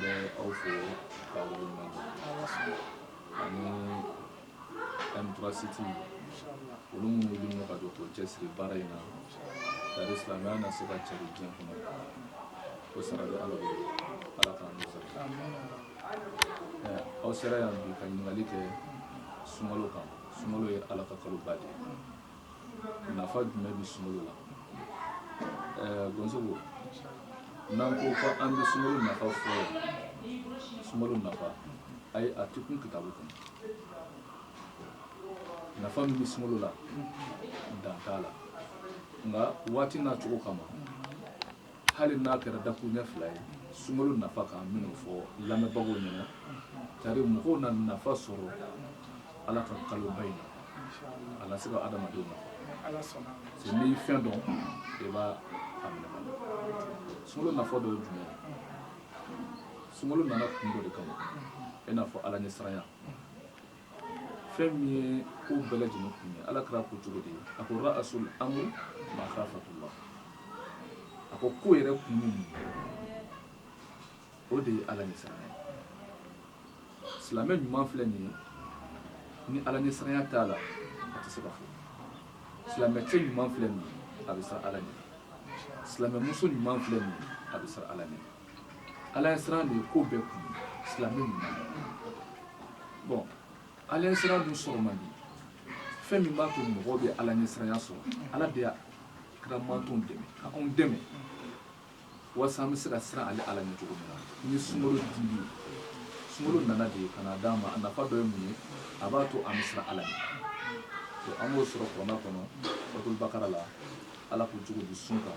Mɛ aw fɛ anifasiti olu minnu ka don cɛsiri baara in na silamɛ na se ka cɛ diɲɛ kɔnɔ ko sara ala ala ka aw sera yan bi ka ɲininkali kɛ sunkalo kan sunkalo ye ala ka kaloba de ye nafa jumɛn bɛ sunkalo la ɛɛ donso n'an ko ko an bɛ sunkalo nafa fɔ sunkalo nafa a ye a tɛ kun kitabu kɔnɔ nafa min bɛ sunkalo la dan t'a la nka waati n'a cogo kama hali n'a kɛra dakuruɲɛ fila ye sunkalo nafa kan n bɛn'o fɔ lamɛnbagaw ɲɛna tari mɔgɔw na nafa sɔrɔ ala ka kaloba in na a se ka adamadenw na se ni fɛn dɔn i b'a sunkalo nafa dɔ ye jumɛn sunkalo nana kun dɔ de kama i n'a fɔ ala ɲɛ siranya fɛn min ye ko bɛɛ lajɛlen kun ye ala kira ko cogo di a ko rasul amri makhafatullah a ko ko yɛrɛ kun ye mun o de ye ala ɲɛ siranya silamɛ ɲuman filɛ nin ye ni ala ɲɛ siranya t'a la a tɛ se ka fɔ silamɛ cɛ ɲuman filɛ nin ye a bɛ siran ala ɲɛ silamɛ muso ɲuman filɛ nin ye a bɛ siran ala ɲɛ ala ɲɛ siranya de ye ko bɛɛ kun silamɛw bon ala ɲɛ siranya dun sɔrɔ man di fɛn min b'a to mɔgɔw bɛ ala ɲɛ siranya sɔrɔ ala de y'a kira mantonw dɛmɛ ka anw dɛmɛ walasa an bɛ se ka siran ale ala ɲɛ cogo min na ni sunkalo dili sunkalo nana de ka na d'an ma a nafa dɔ ye mun ye a b'a to an bɛ siran ala ɲɛ an b'o sɔrɔ kuranɛ kɔnɔ suratuli bakara la ala ko cogo di sun kan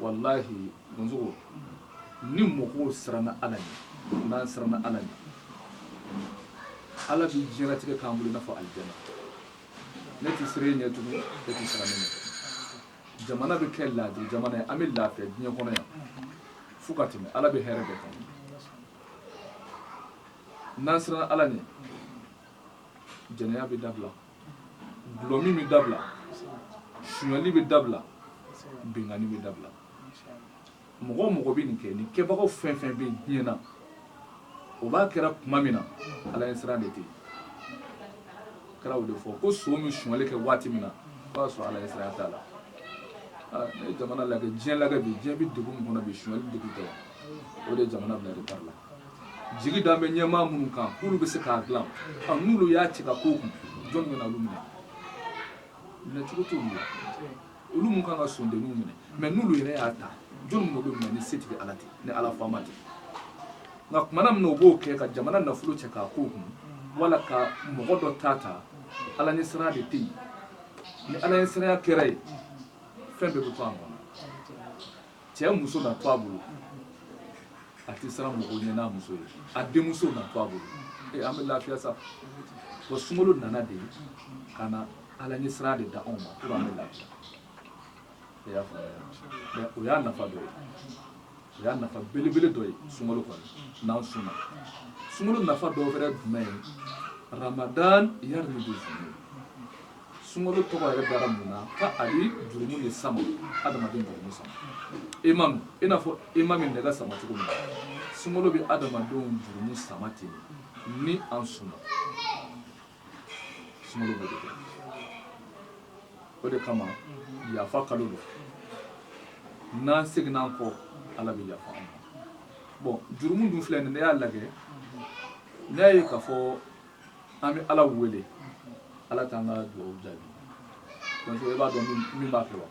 walahi donsogo ni mɔgɔw siranna ala ɲɛ n'an siranna ala ɲɛ ala bɛ diɲɛlatigɛ k'an bolo i n'a fɔ alijana ne tɛ siran e ɲɛ tugun e tɛ siran ne ɲɛ jamana bɛ kɛ laadi jamana ye an bɛ lafiya diɲɛ kɔnɔ yan fo ka tɛmɛ ala bɛ hɛrɛ bɛɛ kan n'an siranna ala ɲɛ jɛnɛya bɛ dabila dɔlɔmin bɛ dabila sunyali bɛ dabila binkanni bɛ dabila mɔgɔ o mɔgɔ bɛ nin kɛ nin kɛbagaw fɛn o fɛn bɛ diɲɛ na o b'a kɛra tuma min na ala ɲɛ siran de tɛ kira y'o de fɔ ko son bɛ sunyali kɛ waati min na a b'a sɔrɔ ala ɲɛ siran t'a la n'i ye jamana lajɛ diɲɛ lajɛ bi diɲɛ bɛ degun min kɔnɔ bi sunyali degun tɛ o de ye jamana bila retard la jigi dalen bɛ ɲɛmaa minnu kan k'olu bɛ se k'a dilan ɔ n'olu y'a cɛ k'a k'o kun jɔni bɛna olu minɛ minɛ cogo t'olu la olu minnu kan ka sondenninw minɛ mɛ n'olu yɛrɛ y'a ta jɔni minɛ olu minɛ ni se tɛ ala tɛ ni ala faama tɛ nka kumana min na o b'o kɛ ka jamana nafolo cɛ k'a k'o kun wala ka mɔgɔ dɔ ta ta ala ɲɛ siran de tɛ yen ni ala ɲɛ siranya kɛra yen fɛn bɛɛ bɛ to a kɔnɔ cɛ muso na to a bolo a tɛ siran mɔgɔw ɲɛ n'a muso ye a denmuso na to a bolo ee an bɛ lafiya sabu sunkalo nana de ka na ala ɲɛ siran de d'anw ma pour an bɛ lafiya e y'a faamuya mɛ o y'a nafa dɔ ye o y'a nafa belebele dɔ ye sunkalo kɔnɔ n'an sunna sunkalo nafa dɔ wɛrɛ jumɛn ye ramadan yari ni sunkalo tɔgɔ yɛrɛ dara mun na ko a bɛ jurumu de sama adamaden jurumu sama aimant i n'a fɔ aimant bɛ nɛgɛ sama cogo min na sunkalo bɛ adamadenw jurumu sama ten ni an sunna sunkalo b'o de kɛ o de kama yafa kalo don n'an seginna an kɔ ala bɛ yafa an ma bon jurumu dun filɛ nin ne y'a lajɛ ne y'a ye k'a fɔ an bɛ ala wele ala k'an ka dugawu jaabi donc e b'a dɔn min b'a kɛ wa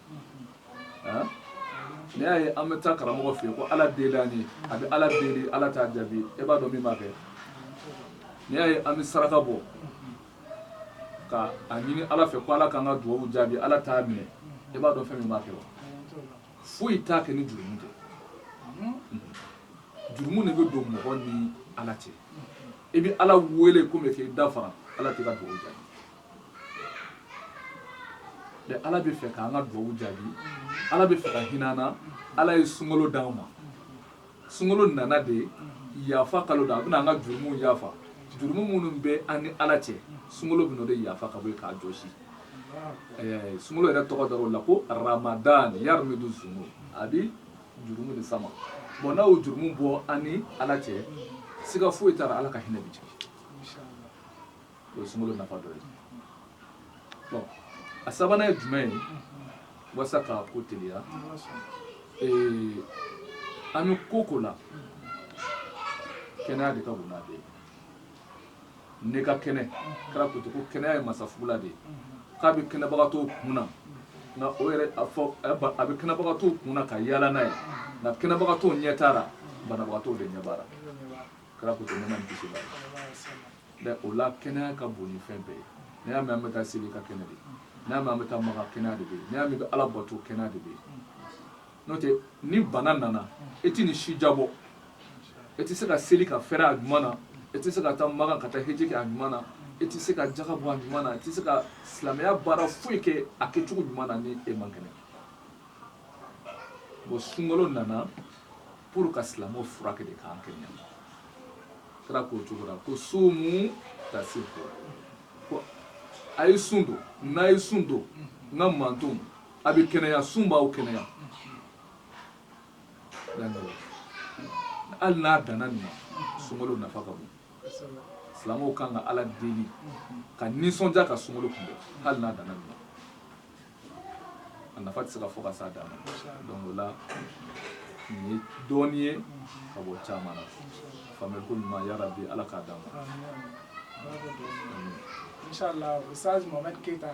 n'i y'a ye an bɛ taa karamɔgɔ fɛ yen ko ala deli an ye a bɛ ala deli ala t'a jaabi e b'a dɔn min b'a kɛ n'i y'a ye an bɛ saraka bɔ ka a ɲini ala fɛ ko ala k'an ka dugawu jaabi ala t'a minɛ e b'a dɔn fɛn min b'a kɛ wa foyi t'a kɛ ni jurumu tɛ jurumu de bɛ don mɔgɔ ni ala cɛ i bɛ ala wele komi k'i da fara ala tɛ ka dugawu jaabi mɛ ala b'a fɛ k'an ka dugawu jaabi ala b'a fɛ ka hin'an na ala ye sunkalo d'an ma sunkalo nana de yafa kalo don a bɛna an ka jurumuw yafa jurumu minnu bɛ an ni ala cɛ sunkalo bɛna o de yafa ka bɔ yen k'a jɔsi sunkalo yɛrɛ tɔgɔ dar'o la ko ramadan yarmidu zunub a bi jurumu de sama bon n'a y'o jurumu bɔ an ni ala cɛ siga foyi t'a la ala ka hinɛ bi jigin o ye sunkalo nafa dɔ ye bon a sabanan ye jumɛn ye walasa ka ko teliya ee an bɛ ko o ko la kɛnɛya de ka bon n'a bɛɛ ye ne ka kɛnɛ kira ko ko kɛnɛya ye masafugula de ye k'a bɛ kɛnɛbagatɔ kun na nka o yɛrɛ a fɔ a bɛ kɛnɛbagatɔ kun na ka yaala n'a ye nka kɛnɛbagatɔ ɲɛ t'a la banabagatɔ de ɲɛ b'a la kira ko ne ma kisi la mɛ o la kɛnɛya ka bon ni fɛn bɛɛ ye n'i y'a mɛn an bɛ taa seli i ka kɛnɛ de n'i y'a mɛn an bɛ taa maka kɛnɛya de bɛ yen n'i y'a mɛn an bɛ ala bato kɛnɛya de bɛ yen n'o tɛ ni bana nana e tɛ nin si diyabɔ e tɛ se ka seli ka fɛɛrɛ a ɲuman na e tɛ se ka taa Maka ka taa heji kɛ a ɲuman na e tɛ se ka jaga bɔ a ɲuman na e tɛ se ka silamɛya baara foyi kɛ a kɛcogo ɲuman na ni e man kɛnɛ bon sunkalo nana pour ka silamɛw furakɛ de k'an kɛnɛya kira k'o cogo la ko sumu tasihu a ye sun don n'a ye sun don n ka mantonw a bɛ kɛnɛya sun b'aw kɛnɛya hali n'a danna nin ma sunkalo nafa ka bon silamɛw kan ka ala deli ka nisɔndiya ka sunkalo kunbɛn hali n'a danna nin ma a nafa tɛ se ka fɔ ka s'a dan ma donc o la nin ye dɔɔni ye ka bɔ caman na faamuyali ko ɲuman yarabi ala k'a d'an ma. Inshallah, Ustaz Mohamed Keita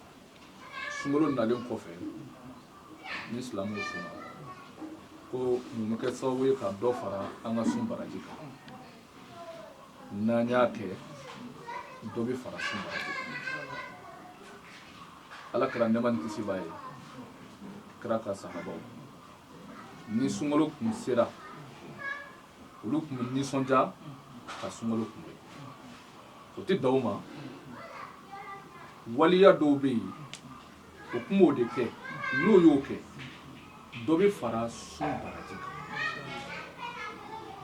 sunkalo nalen kɔfɛ ni silamɛ sunna ko mun bɛ kɛ sababu ye ka dɔ fara an ka sun baraji kan n'an y'a kɛ dɔ bɛ fara sun baraji kan ala kira nɛma ni kisi b'a ye kira ka sahabaw ni sunkalo kun sera olu tun bɛ nisɔndiya ka sunkalo kunbɛn o tɛ dan o ma waleya dɔw bɛ yen o tun b'o de kɛ n'o y'o kɛ dɔ bɛ fara sun baraji kan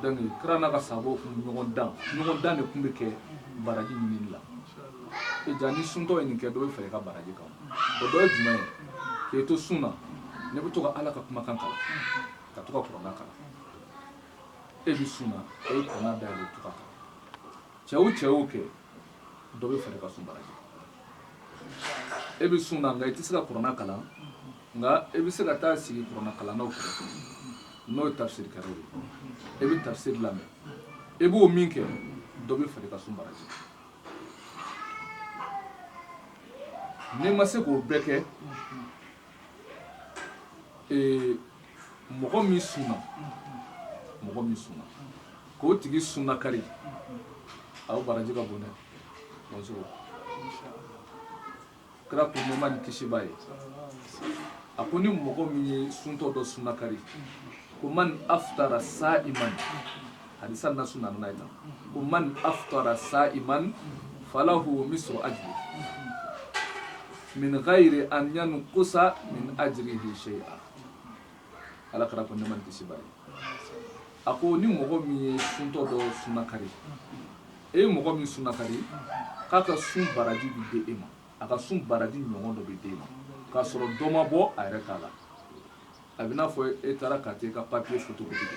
donc kira n'a ka sahabaw tun bɛ ɲɔgɔn dan ɲɔgɔn dan de tun bɛ kɛ baraji ɲinini la e ja ni suntɔ ye nin kɛ dɔ bɛ fara i ka baraji kan o dɔ ye jumɛn ye k'e to sun na n'e bɛ to ka ala ka kumakan kalan ka to ka kuranna kalan e bɛ sun na e ye kuranna dayɛlɛ to k'a kalan cɛ o cɛ y'o kɛ dɔ bɛ far'i ka sun baraji kan e bɛ sun na nka i tɛ se ka kuranna kalan nka e bɛ se ka taa sigi kuranna kalannaw kɛrɛfɛ n'o ye tafsiri kɛlaw ye e bɛ tafsiri lamɛn e b'o min kɛ dɔ bɛ far'i ka sun baraji kan n'i ma se k'o bɛɛ kɛ ee mɔgɔ min sunna mɔgɔ min sunna k'o tigi sunna kari a o baraji ka bon dɛ parce que kira ko nɛɛma ni kisi b'a ye a ko ni mɔgɔ min ye suntɔ dɔ sunna kari ko man aftara sa'iman hadisa na su nana ita ko man aftara sa'iman falahu mislu ajri min ghairi an yanqusa min ajrihi shay'a ala kira ko nɛma ni kisi b'a ye a ko ni mɔgɔ min ye suntɔ dɔ sunna kari e ye mɔgɔ min sunna kari k'a ka sun baraji bi di e ma a ka sun baraji ɲɔgɔn dɔ bi di e ma k'a sɔrɔ dɔ ma bɔ a yɛrɛ ta la a bɛ n'a fɔ e taara ka e ka papier photocopie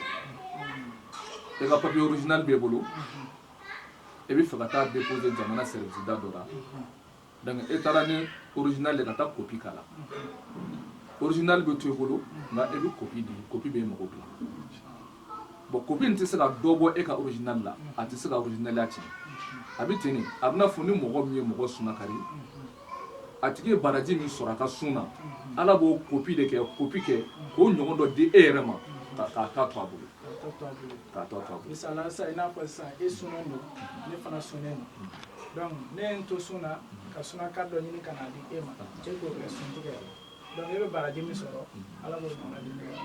e ka papier original bɛ bolo e bɛ fɛ ka taa déposer jamana sɛriwisida dɔ la donc e taara ni original de ka taa kopi k'a la original bɛ to e bolo nka e bɛ kopi di kopi bɛ mɔgɔw bila bon kopi in tɛ se ka dɔ bɔ e ka original la a tɛ se ka originaliya tiɲɛ a bɛ ten de a bɛ n'a fɔ ni mɔgɔ min ye mɔgɔ sunakari a tigi ye baraji min sɔrɔ a ka sun na ala b'o kopi de kɛ kopi kɛ k'o ɲɔgɔn dɔ di e yɛrɛ ma k'a ta to a bolo k'a tɔ to a bolo misala sisan i n'a fɔ sisan e sunnen don ne fana sunnen don donc ne ye n to sun na ka sunakari dɔ ɲini ka n'a di e ma e k'o kɛ sun tigɛ ye donc e bɛ baraji min sɔrɔ ala b'o baraji min kɛ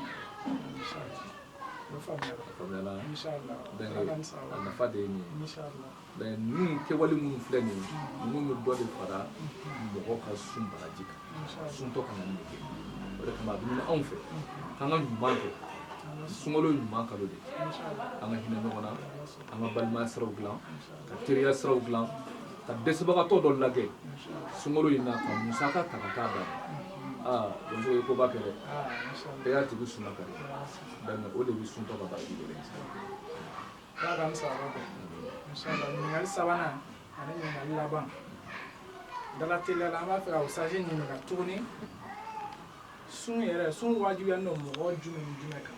nafa de ye nin ye ninnu kɛwale minnu filɛ nin ye ninnu bɛ dɔ de fara mɔgɔ ka sun baraji kan suntɔ ka kan ka nin kɛ o de kama a bɛ ɲini anw fɛ k'an ka ɲuman kɛ sunkalo ɲuman kalo de an ka hinɛ ɲɔgɔn na an ka balimaya siraw dilan ka teriya siraw dilan ka dɛsɛbagatɔ dɔ lajɛ sunkalo in na ka musaka ta ka taa d'a ma aa donc o ye koba kɛ dɛ e y'a tigi suma ka dɛ dani o de bɛ suntɔ ka baraji de dɛ ala ka musaka kɛ inshallah ɲininkali sabanan ani ɲininkali laban dala teliya la an b'a fɛ ka usutazi ɲininka tuguni sun yɛrɛ sun wajibiyalen don mɔgɔ jumɛn ni jumɛn kan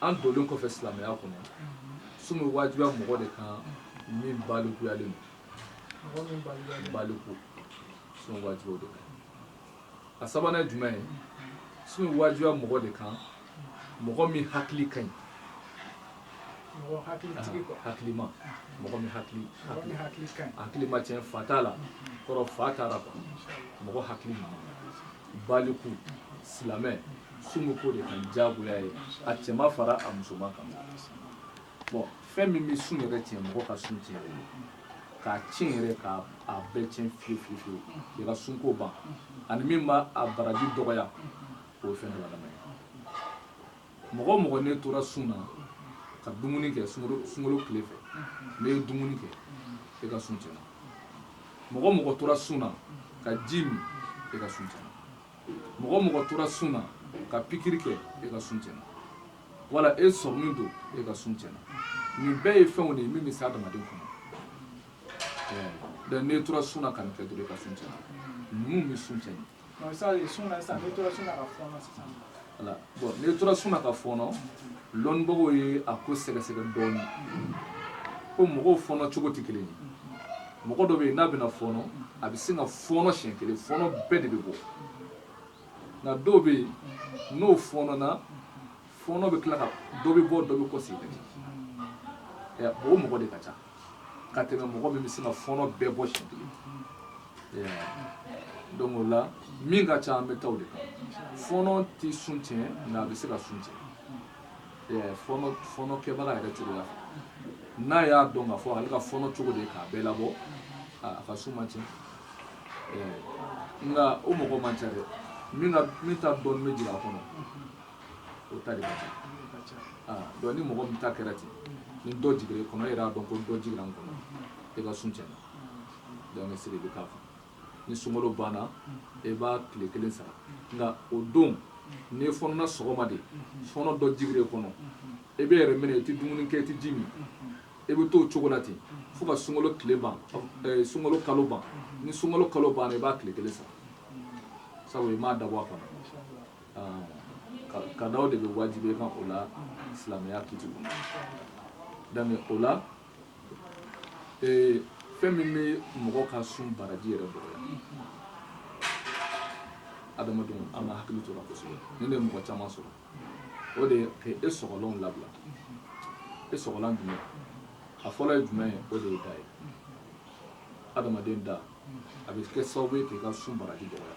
an donlen kɔfɛ silamɛya kɔnɔ sun bɛ wajibiya mɔgɔ de kan min balikuyalen don baliku sun wajibiya de kan a sabanan jumɛn ye sun bɛ wajibiya mɔgɔ de kan mɔgɔ min hakili ka ɲi hakilima mɔgɔ min hakili hakili ma tiɲɛ fa t'a la kɔrɔ fa t'a la mɔgɔ hakili baliku silamɛ sun b'o de kan jagoya ye a cɛman fara a musoman kan fɛn min bɛ sun yɛrɛ tiɲɛ mɔgɔ ka sun tiɲɛ k'a tiɲɛ yɛrɛ k'a bɛɛ tiɲɛ fi fi fiye i ka sunko ban ani min b'a a baraji dɔgɔya o ye fɛn dɔ lamɛn mɔgɔ mɔgɔ n'e tora sun na ka dumuni kɛ sunkalo tile fɛ n'e ye dumuni kɛ e ka sun tiɲɛna mɔgɔ mɔgɔ tora sun na ka ji min e ka sun tiɲɛna mɔgɔ mɔgɔ tora sun na ka pikiri kɛ e ka sun tiɲɛna wala e sɔrɔmu don e ka sun tiɲɛna nin bɛɛ ye fɛnw de ye min bɛ se adamaden kɔnɔ donc n'e tora sun na ka nin kɛ dɔrɔn e ka sun tiɲɛna ninnu bɛ sun tiɲɛna. n'i tora sun na ka fɔɔnɔ dɔnnibagaw ye a ko sɛgɛsɛgɛ dɔɔnin ko mɔgɔw fɔɔnɔ cogo tɛ kelen ye mɔgɔ dɔ bɛ yen n'a bɛna fɔɔnɔ a bɛ sin ka fɔɔnɔ siɲɛ kelen fɔɔnɔ bɛɛ de bɛ bɔ nka dɔw bɛ yen n'u fɔɔnɔna fɔɔnɔ bɛ tila ka dɔ bɛ bɔ dɔ bɛ kɔsegin ka jigin o mɔgɔ de ka ca ka tɛmɛ mɔgɔ min bɛ se ka fɔɔnɔ bɛɛ bɔ si donc o la min ka ca an bɛ taa o de kan fɔɔnɔ tɛ sun tiɲɛ nka a bɛ se ka sun tiɲɛ fɔɔnɔ kɛbaga yɛrɛ cogo la n'a y'a dɔn ka fɔ ale ka fɔɔnɔ cogo de ye k'a bɛɛ labɔ a ka sun ma tiɲɛ nka o mɔgɔ man ca dɛ min ta dɔɔni bɛ jigin a kɔnɔ o ta de ka ca ah, donc ni mɔgɔ min ta kɛra ten ni dɔ jigira i kɔnɔ e yɛrɛ y'a dɔn ko dɔ jigira n kɔnɔ e ka sun tiɲɛna donc e sigi i bɛ k'a fɔ ni sunkalo banna e b'a tile kelen sara nka o don n'i fɔɔnɔna sɔgɔma de fɔɔnɔ dɔ jigira i kɔnɔ e b'i yɛrɛ minɛ i tɛ dumuni kɛ i tɛ ji min e bɛ t'o cogo la ten fo ka sunkalo tile ban eh, sunkalo kalo ban ni sunkalo kalo banna i b'a tile kelen sara sabu i m'a dabɔ a kama kada o de bɛ wajibi e kan o la silamɛya kiti kɔnɔ donc o la fɛn min bɛ mɔgɔ ka sun baraji yɛrɛ dɔgɔya adamadenw an ka hakili to a la kosɛbɛ nin de mɔgɔ caman sɔrɔ o de ka e sɔgɔlanw labila e sɔgɔlan jumɛn a fɔlɔ ye jumɛn ye o de ye da ye adamaden da a bɛ kɛ sababu ye k'i ka sun baraji dɔgɔya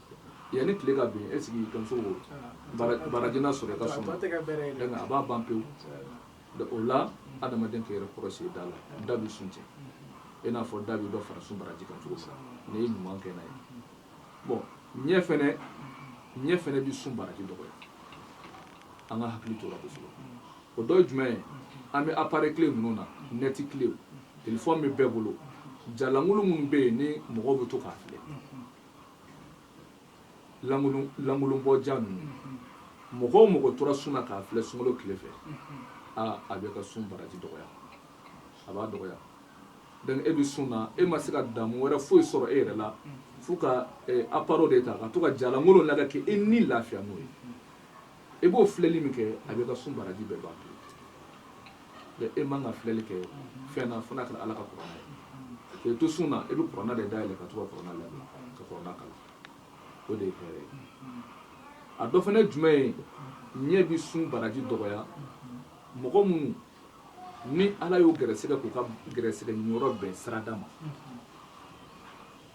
Yanni tile ka bin e sigi ka baraji sɔrɔ ka so a b'a ban pewu o la adamaden yɛrɛ kɔrɔsi da la da bɛ sun cɛn i n'a fɔ da bɛ dɔ fara sun baraji kan cogo sa n'i ye ɲuman kɛ na ye bon ɲɛ fana ɲɛ fana bɛ sun baraji dɔgɔya an ka hakili to a ra kosɛbɛ o dɔ jumɛn ye an bɛ apare tile ninnu na nɛti tile telefɔni bɛ bɛɛ bolo jalankolon minnu bɛ yen ni mɔgɔ bɛ to k'a filɛ lankolonbɔ ja ninnu mɔgɔ o mɔgɔ tora sun na k'a filɛ sunkalo tile fɛ aa a b'e ka sun baraji dɔgɔya a b'a dɔgɔya donc e bɛ sun na e ma se ka damu wɛrɛ foyi sɔrɔ e yɛrɛ la fo ka aparo de ta ka to ka jalankolon lajɛ k'e ni lafiya n'o ye i b'o filɛli min kɛ a b'e ka sun baraji bɛɛ ban mɛ e man ka filɛli kɛ fɛn na fo n'a kɛra ala ka kuranna ye k'i to sun na i bɛ kuranna de dayɛlɛ ka to ka kuranna lamɛn ka kuranna kalan o de ye hɛrɛ ye a dɔ fana jumɛn ye ɲɛ bɛ sun baraji dɔgɔya mɔgɔ minnu ni ala y'u gɛrɛsɛgɛ k'u ka gɛrɛsɛgɛ yɔrɔ bɛn sirada ma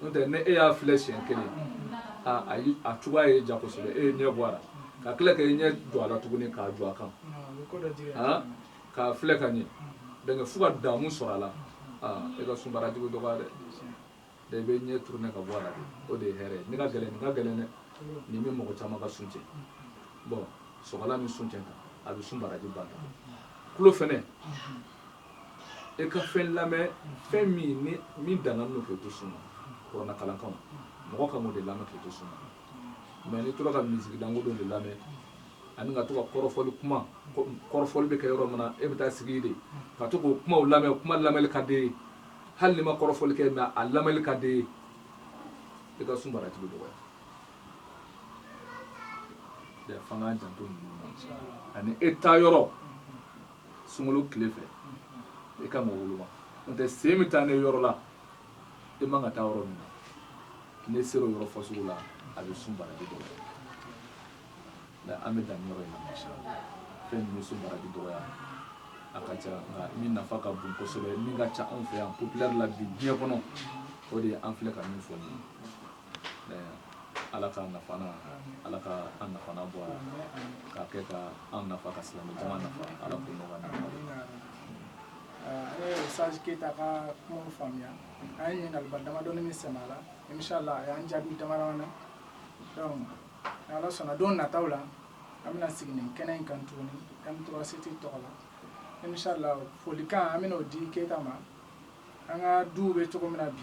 n'o tɛ ni e y'a filɛ siɲɛ kelen aa ayi a cogoya ye ja kosɛbɛ e y'i ɲɛ bɔ a la ka tila ka i ɲɛ jɔ a la tuguni k'a jɔ a kan aa k'a filɛ ka ɲɛ donc fo ka damu sɔrɔ a la aa e ka sun baraji bɛ dɔgɔya dɛ de i b'i ɲɛ turunɛ ka bɔ a la o de ye hɛrɛ ye nin ka gɛlɛn nin ka gɛlɛn dɛ nin bɛ mɔgɔ caman ka sun cɛn bon sɔgɔla min sun cɛn kan a bɛ sun baraji ban tulo fɛnɛ e ka fɛn lamɛn fɛn min ni min dagalen don k'i to sun na kuranɛ kalan kama mɔgɔ ka o de lamɛn k'i to sun na mɛ n'i tora ka miziki danko dɔ de lamɛn ani ka to ka kɔrɔfɔli kuma kɔrɔfɔli bɛ kɛ yɔrɔ min na e bɛ taa sigi de ka to k'o kumaw lamɛn kuma lamɛnli ka d'i ye hali n'i ma kɔrɔfɔli kɛ mɛ a lamɛnli ka d'i ye e ka sun baraji bɛ dɔgɔya f'an k'an janto ninnu ani e ta yɔrɔ sunkalo tile fɛ i ka mɔgɔ woloma n'o tɛ sen bɛ taa n'i ye yɔrɔ la i man kan ka taa yɔrɔ min na n'e sera o yɔrɔ fasugu la a bɛ sun baraji dɔgɔya nka an bɛ dan yɔrɔ in na masha fɛn min bɛ sun baraji dɔgɔya a ka ca nka min nafa ka bon kosɛbɛ min ka ca anw fɛ yan popilɛri la bi diɲɛ kɔnɔ o de ye an filɛ ka min fɔ nin ye ala ka nafa ala ka an nafa bɔ ka kɛ ka an nafa ka silamɛ jama nafa ala k'o nɔgɔya ne ye saji keyita ka kuma faamuya an ye ɲininkaliba damadɔni min sɛmɛ a la inshala a y'an jaabi damadɔni na donc ala sɔnna don nataw la an bɛna sigi nin kɛnɛ in kan tuguni m3 tɔgɔ la inshala folikan an bɛna o di keyita ma an ka duw bɛ cogo min na bi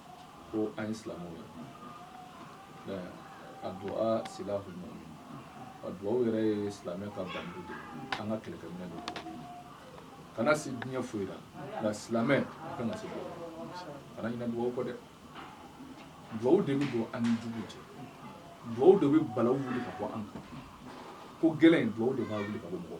ko an ye silamɛ ye a dugawu sira kun a dugawu yɛrɛ ye silamɛ ka ban de an ka kɛlɛkɛminɛn don kana se diɲɛ foyi la nka silamɛ a ka na se kana ɲina dugawu kɔ dɛ dugawu de bɛ don an ni jugu cɛ dugawu de bɛ balaw wuli ka bɔ an kan ko gɛlɛn in dugawu de b'a wuli ka bɔ mɔgɔ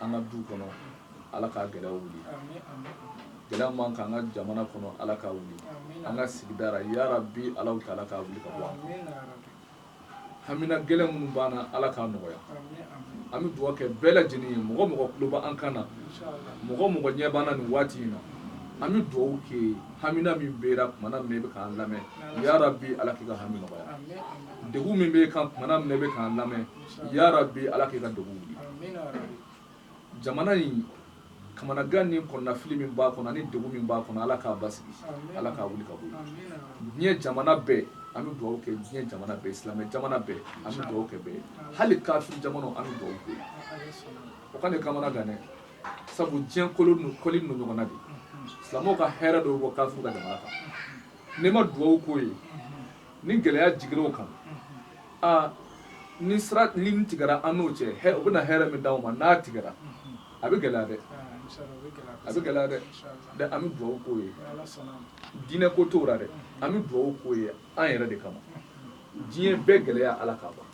an ka du kɔnɔ ala ka gɛlɛya wuli gɛlɛya mana kɛ an ka jamana kɔnɔ ala k'a wuli an ka sigidara yarabi ala ka ala k'a wuli ka bɔ hamina gɛlɛn minnu b'an na ala k'a nɔgɔya an bɛ dugawu kɛ bɛɛ lajɛlen ye mɔgɔ mɔgɔ tulo b'an kan na mɔgɔ mɔgɔ ɲɛ b'an na nin waati in na an bɛ dugawu kɛ hamina min bɛ tumaumana min bɛ k'an lamɛn yarabi ala k'i ka hami nɔgɔya de min bɛ kan tumaumana min bɛ k'an lamɛn Yarabi ala k'i ka dugu jamana in kamanagan ni kɔnɔnafili min b'a kɔnɔ ni degun min b'a kɔnɔ ala k'a basigi ala k'a wuli ka diɲɛ jamana bɛɛ an bɛ dugawu kɛ diɲɛ jamana bɛɛ silamɛ jamana bɛɛ an bɛ dugawu kɛ bɛɛ hali kafiri jamana an bɛ dugawu kɛ o kana kamanagan dɛ sabu diɲɛ kolo ninnu kɔli ninnu ɲɔgɔn na de silamɛw ka hɛrɛ dɔw bɔ kafiri ka jamana kan n'i ma dugawu k'o ye ni gɛlɛya jigir'u kan aa ni sira nin tigɛra an n'o cɛ hɛ o bɛna hɛrɛ min d'anw ma n'a tigɛra a bɛ gɛlɛya dɛ a bɛ gɛlɛya dɛ dɛ an bɛ dugawu k'o ye diinɛ ko t'o la dɛ an bɛ dugawu k'o ye an yɛrɛ de kama diɲɛ bɛɛ gɛlɛya ala k'a ban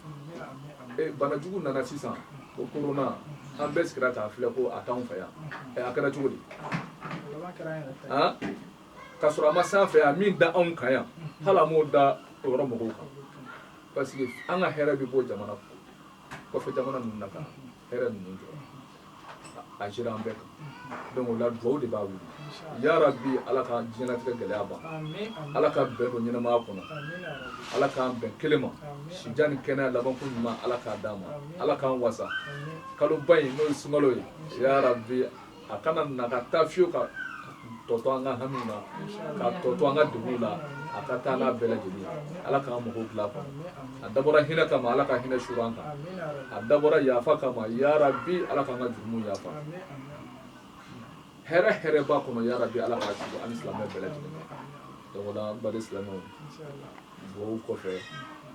eh, bana jugu nana sisan ko korona an bɛɛ sigira k'a filɛ ko a t'anw fɛ yan eh, a kɛra cogo di ka sɔrɔ a ma s'an fɛ a min da anw kan yan hali a m'o da o yɔrɔ mɔgɔw kan parce que an ka hɛrɛ bɛ bɔ jamana kɔfɛ jamana ninnu na ka hɛrɛ ninnu jɔ a jigira an bɛɛ kan donc o la dugawu de b'a wuli ya rabbi ala ka diɲɛlatigɛ gɛlɛya ban ala ka bɛn don ɲɛnamaya kɔnɔ ala k'an bɛn kelen ma sijan ni kɛnɛya labanko ɲuman ala k'a d'an ma ala k'an wasa kaloba in n'o ye sunkalo ye ya rabbi a kana na ka taa fiyewu ka tɔ to an ka hami na ka tɔ to an ka degun na a ka taa n'a bɛɛ lajɛlen ala k'an mago dilan a kɔnɔ a dabɔra hinɛ kama ala ka hinɛ suuru an kan a dabɔra yafa kama yarabi ala k'an ka jurumu yafa hɛrɛ o hɛrɛ b'a kɔnɔ yarabi ala k'a suuru an ni silamɛ bɛɛ lajɛlen donc o la n baden silamɛw dugawu kɔfɛ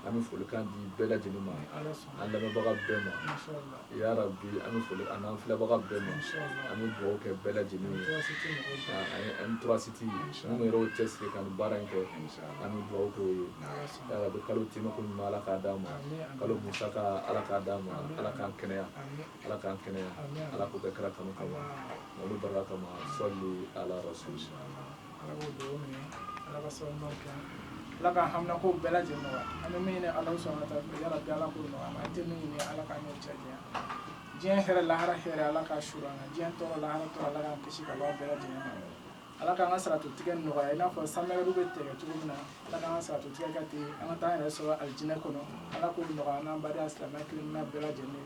an bɛ folikan di bɛɛ lajɛlen ma an lamɛnbaga bɛɛ ma Yarabi an bɛ foli an n'an filɛbaga bɛɛ ma an bɛ dugawu kɛ bɛɛ lajɛlen ye an torasiti an yɛrɛ cɛ siri ka baara in kɛ an bɛ dugawu kɛ ye yarabi kalo te ko ɲuman ala k'a d'an ma kalo musaka ala k'a d'an ma ala k'an kɛnɛya ala k'an kɛnɛya ala k'o kɛ kira kanu kama a barika kama sali ala rasu ala k'o dugawu minɛ ala k'a sababu ɲuman kɛ ala k'an haminanko bɛɛ lajɛlen nɔgɔya an bɛ min ɲini ala sɔnna ka taa yarabi ala k'o nɔgɔya an tɛ min ɲini ala k'an n'o cɛ janya diɲɛ hɛrɛ lahara hɛrɛ ala k'a su an na diɲɛ tɔɔrɔ lahara tɔɔrɔ ala k'an kisi ka bɔ a bɛɛ lajɛlen ma ala k'an ka siratu tigɛ nɔgɔya i n'a fɔ sanmɛgɛru bɛ tigɛ cogo min na ala k'an ka siratu tigɛ kɛ ten an ka taa an yɛrɛ sɔrɔ alijinɛ kɔnɔ ala k'o nɔgɔya an n'an baden silamɛ kelen bɛɛ lajɛlen